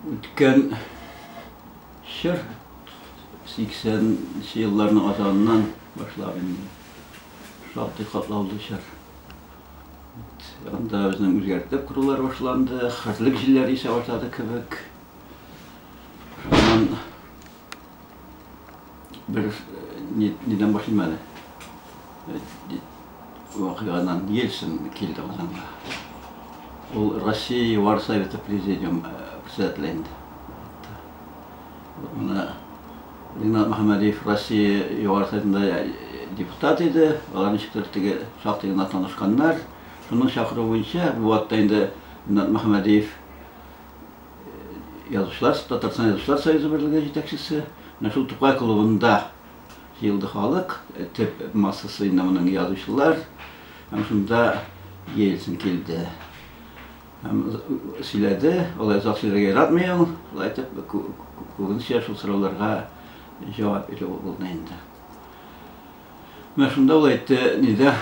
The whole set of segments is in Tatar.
Үткән чор, 80 нче елларның азагыннан башлап инде, шактый катлаулы чор. Анда безнең үзгәртеп корулар башланды, хәзерлек җилләре исә башлады кебек. Шуннан Дөрес, ни- нидән башлыйм әле? Э, ди- Вакыйгадан Ельцин килде Казанга. Ул Россия Югары Советы Президиум э, председателе инде. Вот Менә Ринат Мөхәммәдиев Россия Югары Советында э, депутат иде. Алар ничектер теге шактый гына танышканнар. Шуның чакыруы буенча бу вакытта инде Ринат Мөхәммәдиев язучылар, Татарстан Язучылар союзы берлеге җитәкчесе. Менә шул Тукай клубында җыелды халык, төп массасы инде моның язучылар. Һәм шунда Ельцин килде. Һәм сөйләде, алай озак сөйләргә яратмый ул, шулай итеп күбенчә шул сорауларга җавап бирү булды инде. Менә шунда ул әйтте, нидә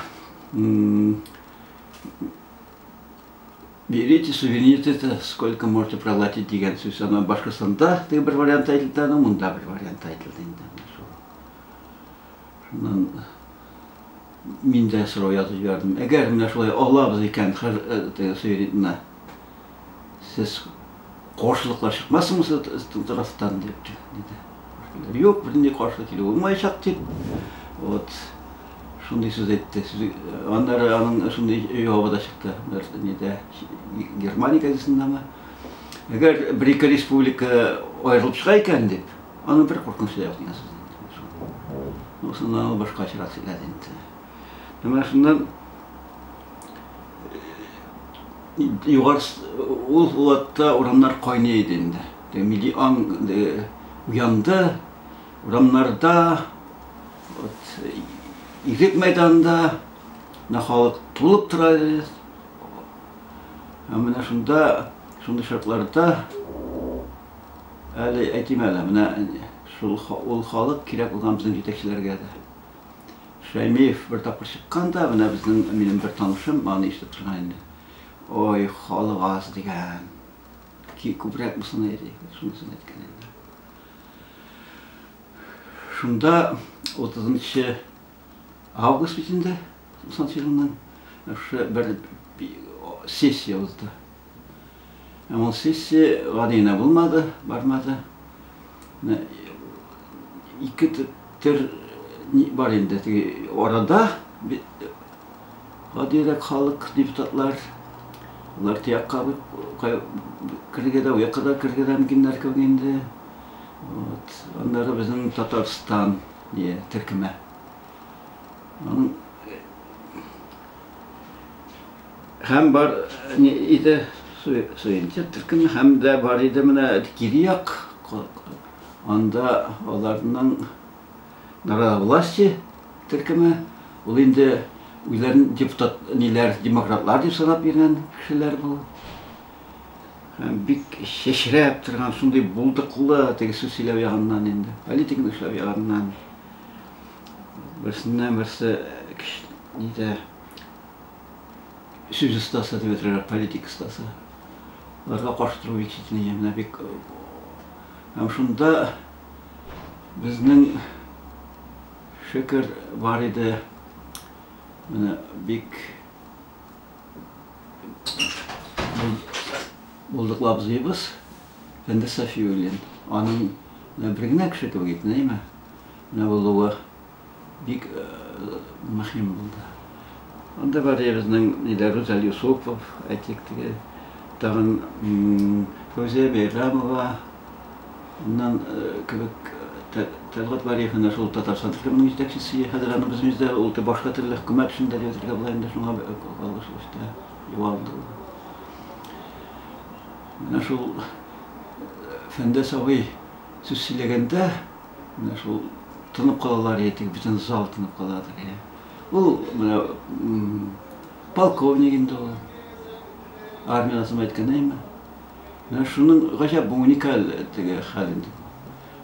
Берите сувенир это сколько можете проглотить дигән сүз. Ана Башкортстанда теге бер вариант әйтелде, аны монда бер вариант әйтелде инде. Шуннан мин дә сорау язып җибәрдем. Әгәр менә шулай алабыз икән, хәзер э, теге сувенирны сез Каршылыклар чыкмасынмы сезнең тарафтан дип диде. Юк, бернинди каршы килү булмаячак дип. Вот шундый сүз әйтте. Аннары аның шундый җавабы да чыкты. Бер нидә Германия газетасындамы? Әгәр бер-ике республика аерылып чыга икән дип, аның бер куркынычы да юк дигән сүз. Ну, шуннан башка чират сөйләде инде. Менә шуннан Ул вакытта урамнар кайный иде инде. Милли аң уянды. Урамнарда, Игек мәйданында халык тулып тора иде. Һәм менә шунда, шундый шартларда, әле әйтим әле, менә ул халык кирәк булган безнең җитәкчеләргә дә. Шәймиев бер тапкыр чыккан да, менә безнең, минем бер танышым аны ишетеп торган инде. Ой, халык аз дигән. Ки, күбрәк булсын әйди. Шунысын әйткән инде. Шунда 30 август бит инде, 90 елның, шушы бер сессия узды. Ә ул сессия гади генә булмады, бармады. Менә ике төр бар инде теге арада гадирәк халык депутатлар алар тиякка керергә дә уякка да керергә дә мөмкиннәр кебек инде вот аннары безнең татарстан дия төркеме Һәм бар иде суенчы төркем һәм дә бар иде менә кире як анда аларның народовластие төркеме ул инде үзләрен депутат ниләр демократлар дип санап йөргән кешеләр бу бик чәчрәп торган шундый булдыклы теге сүз сөйләү ягыннан инде политиканы эшләү ягыннан берсеннән берсе нидә сүз остасы дип әйтергә, политик остасы. Аларга каршы тору бик читенә, менә бик һәм шунда безнең шөкер бар иде. Менә бик булдыклы абзыебыз Фәндәс Сафиуллин. Аның бер генә кеше кебек итенәйме? Менә булуы. Бик мөһим булды. Анда бар иде безнең нидә Рүзәл Юсупов, әйтик теге, тагын Фәүзия Бәйрәмова, аннан кебек Тәлгать Вәлиев менә шул Татарстан төркеменең җитәкчесе, хәзер аны без биздә ул башка төрле хөкүмәт эшендә дип әйтергә була инде, шуңа кагылышлы эштә югалды ул. Менә шул Фәндәс абый сүз сөйләгәндә, Менә шул тынып калалар иде, теге бөтен зал тынып каладыр, я. Ул менә полковник инде ул. Армия атым әйткән әйме. Менә шуның гаҗәп бу уникаль теге хәл инде.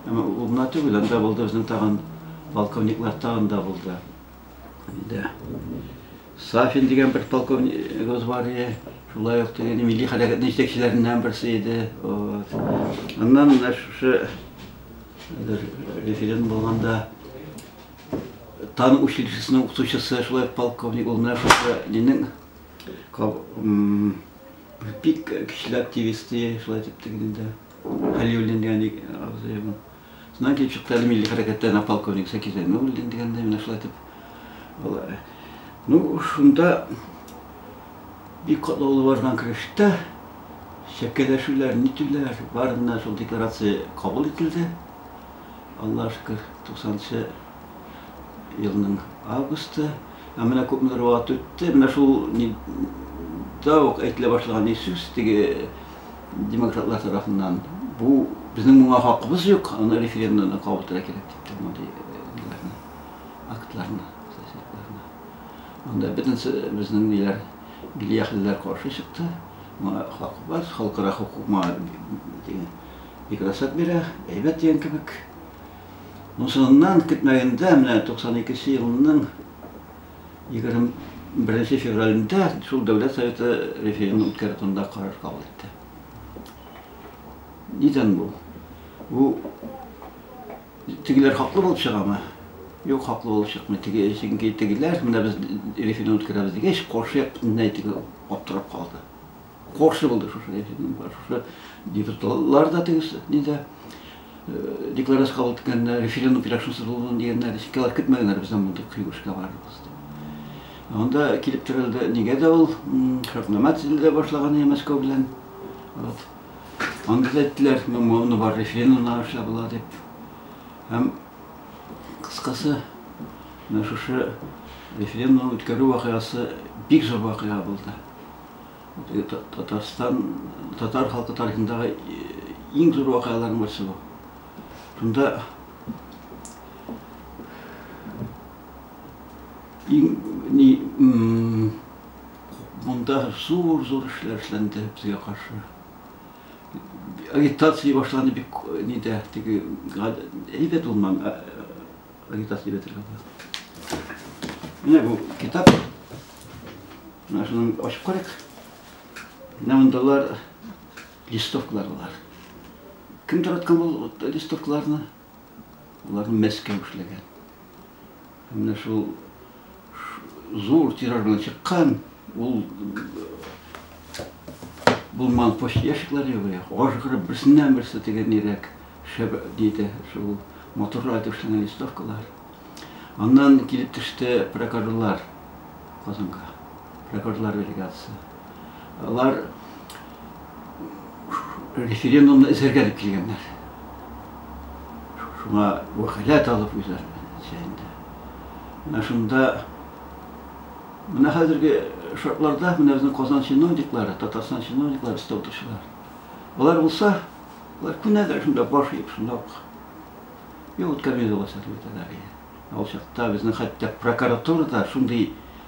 Әмма ул гына түгел, анда булды безнең тагын полковниклар тагын да булды. Инде Сафин дигән бер полковнигыбыз бар иде. Шулай ук теге милли хәрәкәтнең җитәкчеләреннән берсе иде. Вот. Аннан менә шушы Бер референдум булганда тан училищесының укытучысы шулай полковник ул менә шушы нинең бик көчле активист ди шулай дип тегендә Хәлиуллин дигән абзый ул. Шуннан килеп чыкты әле милли хәрәкәттән полковник Сәки Зәйнуллин дигәндә менә шулай дип. Ну, шунда Бик катлаулы барган көрәштә чәкәләшүләр, нитүләр барыннан шул декларация кабул ителде. Аллага шөкер, 90 нчы елның августы. Ә менә күпмедер вакыт үтте, менә шул да ук әйтелә башлаган ни сүз теге демократлар тарафыннан, бу безнең моңа хакыбыз юк, аны референдумда кабул итәргә кирәк дип тә мондый ниләрне, актларны, статьяларны. Анда бөтенесе безнең ниләр, милли әһелләр каршы чыкты. Моңа хакыбыз, халыкара хокук моңа бик рөхсәт бирә, әйбәт дигән кебек. Ну, соңыннан, көтмәгәндә, менә 92 нче елның 20 беренче февралендә шул Дәүләт Советы референдум үткәрү турында карар кабул итте. Нидән бу? Бу Тегеләр хаклы булып чыгамы? Юк, хаклы булып чыкмый. Теге, чөнки тегеләр, менә без референдум үткәрәбез дигәч, каршы як бөтенләй теге аптырап калды. Каршы булды шушы референдумга. Шушы депутатлар да теге нидә э, декларация кабул иткәннәр, референдум кирәк шунсыз булмый дигәннәр, чөнки алар көтмәгәннәр бездән мондый кыйбышка барырбыз дип. Анда килеп терәлде, нигә дә ул шартнама төзелә башлаган иде Мәскәү белән. Вот. Анда да әйттеләр, моны бар рефинлар аша була дип. Һәм кыскасы, менә шушы референдум үткәрү вакыйгасы бик зур вакыйга булды. Татарстан, татар халкы тарихындагы иң зур вакыйгаларның берсе бу. Шунда иң ни Монда зур-зур эшләр эшләнде безгә каршы. Агитация башланды бик нидә, теге әйбәт булман агитация бетерде. Менә бу китап. Менә шуны ачып карыйк. Менә мондалар листовкалар бар. Кем тараткан бу листовкаларны? Аларны Мәскәү эшләгән. Менә шул зур тираж белән чыккан, ул булман почта ящиклары югыя, ажгырып берсеннән берсе теге нирәк шәб диде, шул моторлар итеп эшләнгән листовкалар. Аннан килеп төште прокажулар Казанга. Прокажулар делегация. Алар референдумны эзәргә дип килгәннәр. Шуңа вәкаләт алып үзләр чәйендә. Менә шунда менә хәзерге шартларда менә безнең Казан чиновниклары, Татарстан чиновниклары өстә утыручылар. Алар булса, алар күнәдер шунда баш иеп шунда ук. Юк, үткәрмәйбез алар чакта. Ә ул чакта безнең хәтта прокуратурада шундый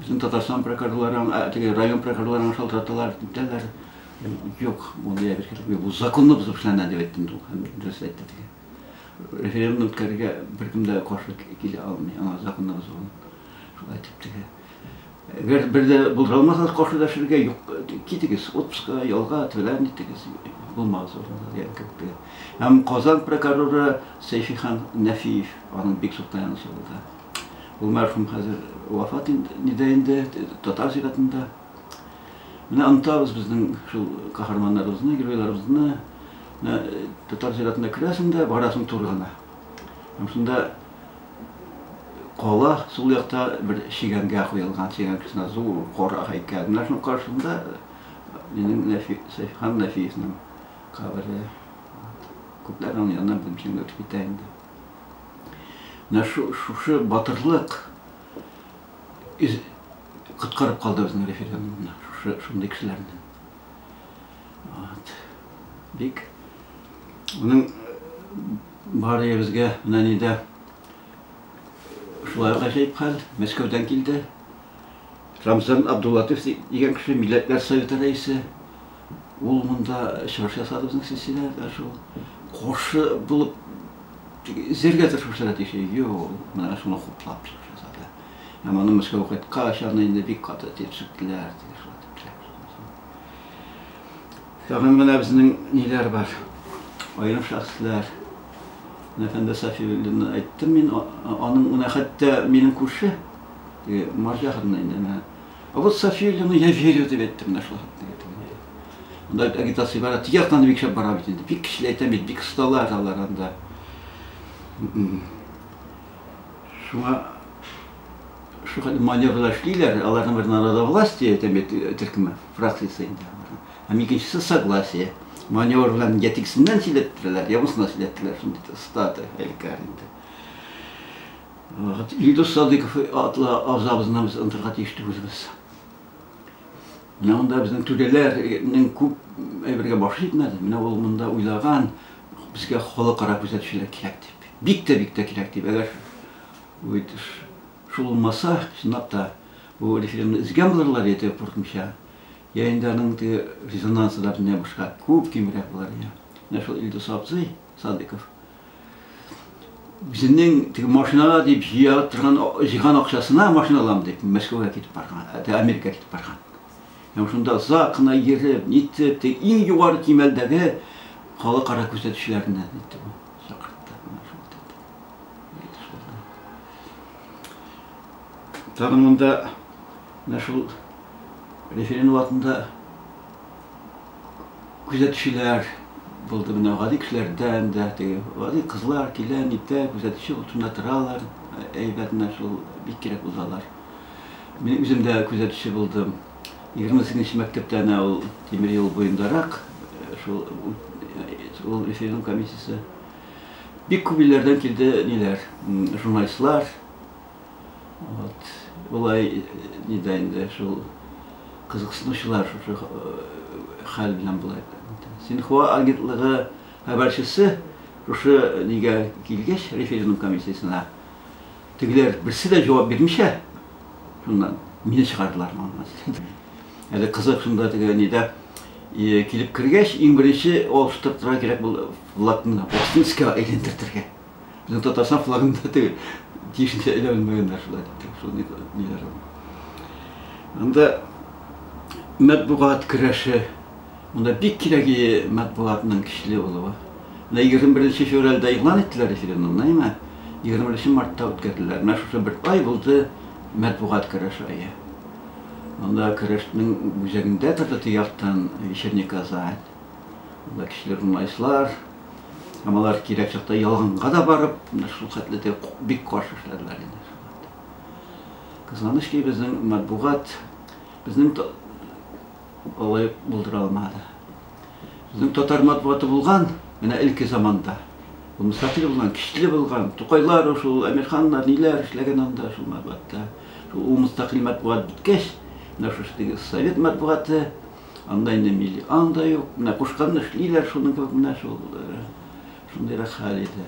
Безнең Татарстан прокурорлары, теге район прокурорларын шалтыраталар, диләр. Юк, бу диабез кирәк. Бу законны бозып эшләнә дип әйттем дә, һәм дөрес әйтте теге. Референдум үткәрергә беркем дә каршы килә алмый, аңа законны бозу. Шулай дип теге. Әгәр бер дә булдыралмасагыз каршы дәшергә, юк, китегез отпуска, ялга, тәлән итегез. Булмагыз урында дигән кебек. Һәм Казан прокуроры Сәйфихан Нәфиев, аның бик зур таянычы булды. Ул мәрхүм хәзер вафат нидә инде, татар зиратында. Менә онтабыз безнең шул каһарманнарыбызны, геройларыбызны. Менә татар зиратына керәсең дә, барасың туры гына. Һәм шунда кала сул якта бер чигәнгә куелган, чигәнгәсенә зур кара һәйкәл. Менә шуның каршында минем Нәфи, Сәйфхан Нәфиевның кабере. Күпләр аның янына белмичәнгә үтеп китә инде. Менә шушы батырлык коткарып калды безнең референдумны, шушы шундый кешеләрне. Вот. Бик уның бары ебезгә менә нидә шулай гаҗәеп хәл, Мәскәүдән килде. Рамзан Абдулатыйф ди- дигән кеше, Милләтләр Советы рәисе. Ул монда чыгыш ясады безнең сессиядә, әнә шул каршы булып тик эзләргә тырышучылар тиеш. Юк, менә шуны хуплап чыгыш ясады. Һәм аны Мәскәүгә кайткач, аны инде бик каты тиршеттеләр, теге шулай дип теләп чыкмасын. Тагын менә безнең ниләр бар, аерым шәхесләр. Менә Фәндәс Сафиуллинны әйттем мин, а- а- аның менә хәтта минем күрше, Теге марҗа хатыннар инде менә. А вот София Ильина, я верю, дип әйтте менә шул хатынга. Анда бит агитация бара, теге яктан бик шәп бара бит инде. Бик кешеләр әйтәм бит, бик осталар алар анда. Шуңа шул хәтле маневрлар эшлиләр, аларның бер народовластие әйтәм бит төркеме, фракциясе инде. Һәм икенчесе согласие. Маневр белән я тегесеннән сөйләттерәләр, я бусына сөйләттерәләр, шундый статы, әлкәр инде. Илдус Садыйков атлы абзабызны без онытырга тиеш түгелбез. Менә анда безнең түрәләрнең күп әйбергә баш җитмәде. Менә ул монда уйлаган, безгә халыкара күзәтүчеләр кирәк дип. Бик тә бик тә кирәк дип. Әгәр шул булмаса, чынлап та бу референдумны өзгән булырлар иде куркынча. Я инде аның теге резонансы да бөтенләй башка, күп кимрәк булыр иде. Менә шул Илдус абзый Садыйков үзенең теге машинага дип җыя торган җыйган акчасына машина алам дип Мәскәүгә китеп барган, ә Америкага китеп барган. Һәм шунда озак кына йөреп, нитеп, теге иң югары кимәлдәге халыкара күзәтүчеләренә нитте бу. Чакыртты. Тагын монда менә шул референдум вакытында күзәтүчеләр булды менә гади кешеләрдән дә теге гади кызлар килә нитә күзәтүче утында торалар әйбәт менә шул бик кирәк булалар мин үзем дә күзәтүче булдым егерме сигезенче мәктәптә әнә ул тимер юл буендарак э, шул ул референдум комиссиясе бик күп илләрдән килде ниләр журналистлар Вот. Болай ни дә инде шул кызыксынучылар шушы хәл белән болай. Синхуа агентлыгы хәбәрчесе шушы нигә килгәч, референдум комиссиясенә, тегеләр берсе дә җавап бирмичә, шуннан мине чыгардылар моннан. Әле кызык шунда теге нидә килеп кергәч, иң беренче алыштыртырга кирәк булды флагны Бостонскига әйләндертергә. Безнең Татарстан флагын да теге тиешенчә эләвелмәгәннәр шулай дип теге шул ниләр ул. Анда матбугат көрәше монда бик кирәге матбугатның көчле булуы. Менә 21 февральдә игълан иттеләр референдумны, әйме? 21 мартта үткәрделәр. Менә шушы бер ай булды матбугат көрәше ае. Анда көрәшнең үзәгендә торды теге яктан вечерний Казань. Монда кешеләр уңайсызлар. Һәм алар кирәк чакта ялганга да барып, шул хәтле дә бик каршы эшләделәр инде. Кызганыч ки, безнең матбугат безнең алай булдыра алмады. Безнең татар матбугаты булган, менә элке заманда. Ул мөстәкыйль булган, көчле булган. Тукайлар, шул Әмирханнар ниләр эшләгән анда шул матбугатта. Шул мөстәкыйль матбугат беткәч, менә шушы совет матбугаты Анда инде милли аң да юк. Менә кушканны эшлиләр, шуның кебек менә шул э, шундыйрак хәл иде.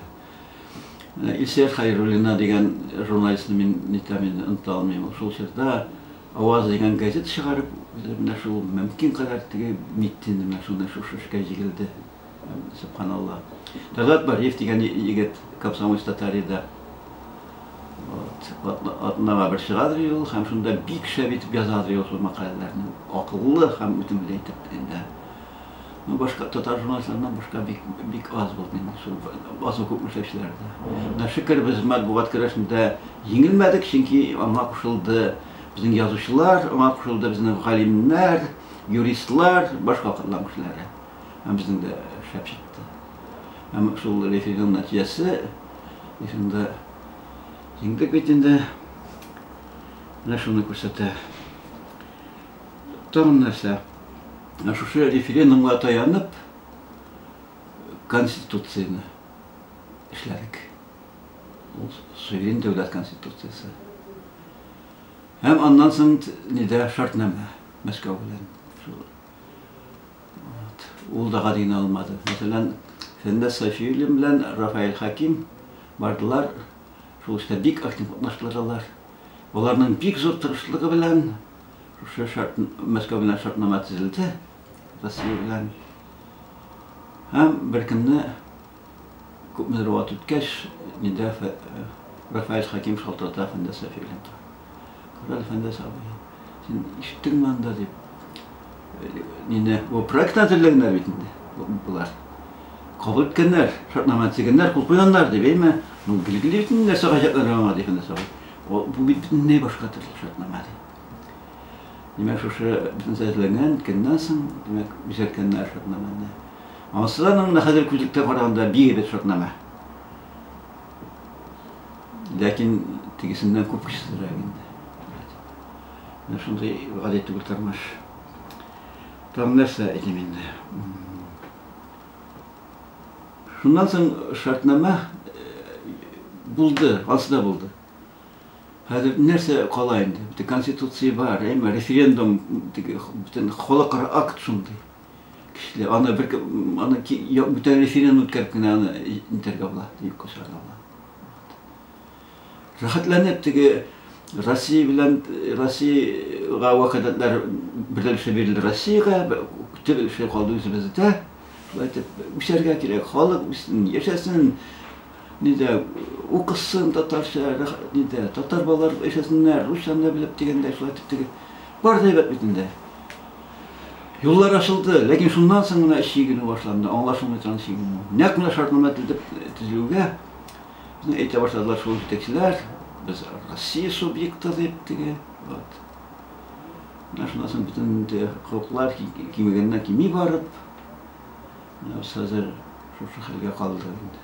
Менә Илсөя Хәйруллина дигән журналистны мин нитәм инде, оныта алмыйм. Ул шул чорда Аваз дигән газета чыгарып, менә шул мөмкин кадәр теге нитте инде, менә шуны шушы эшкә җигелде. Сөбханалла. Талгат Бариев дигән егет Комсомольск Татарида атнага бер чыгадыр ул һәм шунда бик шәп итеп язадыр ул шул мәкаләләрне. Акыллы һәм үтемле итеп инде. Ну, башка татар журналистларыннан башка бик, бик аз булды инде шул базу күп эшләүчеләрдә. Менә шөкер без матбугат көрәшендә еңелмәдек, чөнки аңа кушылды безнең язучылар, аңа кушылды безнең галимнәр, юристлар, башка кырлар кешеләре. Һәм безнең дә шәп чыкты. Һәм шул рефиның нәтиҗәсе, рефинда еңдек бит инде. Менә шуны күрсәтә. Тагын нәрсә? Шушы референдумга таянып, Конституцияне эшләдек. Ул суверен дәүләт Конституциясе. Һәм аннан соң нидә шартнамә Мәскәү белән. Ул да гадине алмады. Мәсәлән, Фәннә Сафиуллин белән Рафаэль Хаким бардылар. Шул эштә бик актив катнаштылар алар. Аларның бик зур тырышлыгы белән шушы шарт Мәскәү белән шартнама төзелде. Россия белән. Һәм беркемне Күпмедер вакыт үткәч, миндә Рафаэль Хәкимов шалтырата Фәндәс Сафи белән тора. Кара әле, Фәндәс абый, син ишеттеңме анда, дип. Мине бу проектны әзерләгәннәр бит инде болар. Кабул иткәннәр, шартнама төзегәннәр, кул куйганнар, дип, әйме? Ну, билгеле бит инде, нәрсә гаҗәпләнергә аңа, ди Фәндәс абый. Бу бит бөтенләй башка төрле шартнама, ди. Димәк, шушы бөтенесе эзләнгән көннән соң, димәк, бизәткәннәр шартнаманы. Анысы да менә хәзер күзлектә караганда бик әйбәт шартнама. Ләкин тегесеннән күп кечесенрәк инде. Менә шундый гади түгел тормыш. Там нәрсә әйтим инде. Шуннан соң шартнама э, булды, ансы да булды. Хәзер нәрсә кала инде? Бит конституция бар, әмма референдум теге бөтен халыкара акт шундый. Кешеләр аны бер аны бүтән референдум үткәреп кенә аны интерга була, юк кушарга була. Рәхәтләнеп теге Россия белән Россиягә вәкаләтләр берләшеп бирелде Россиягә, төп эше калды үзебездә. Шулай итеп, үсәргә кирәк, халык үссен, яшәсен. Нидә укысын татарча, нидә татар балалар яшәсеннәр, русчаны да белеп дигәндәй, шулай итеп теге. Бар да әйбәт бит инде. Юллар ачылды, ләкин шуннан соң гына чигенү башланды, аңлашылмый торган чигенү. Нәкъ менә шартнамә төзеп төзелүгә безне әйтә башладылар шул җитәкчеләр, без Россия субъекты дип теге. Вот. Менә шуннан соң бөтен хокуклар кимегәннән кими барып, менә без хәзер шушы хәлгә калдык инде.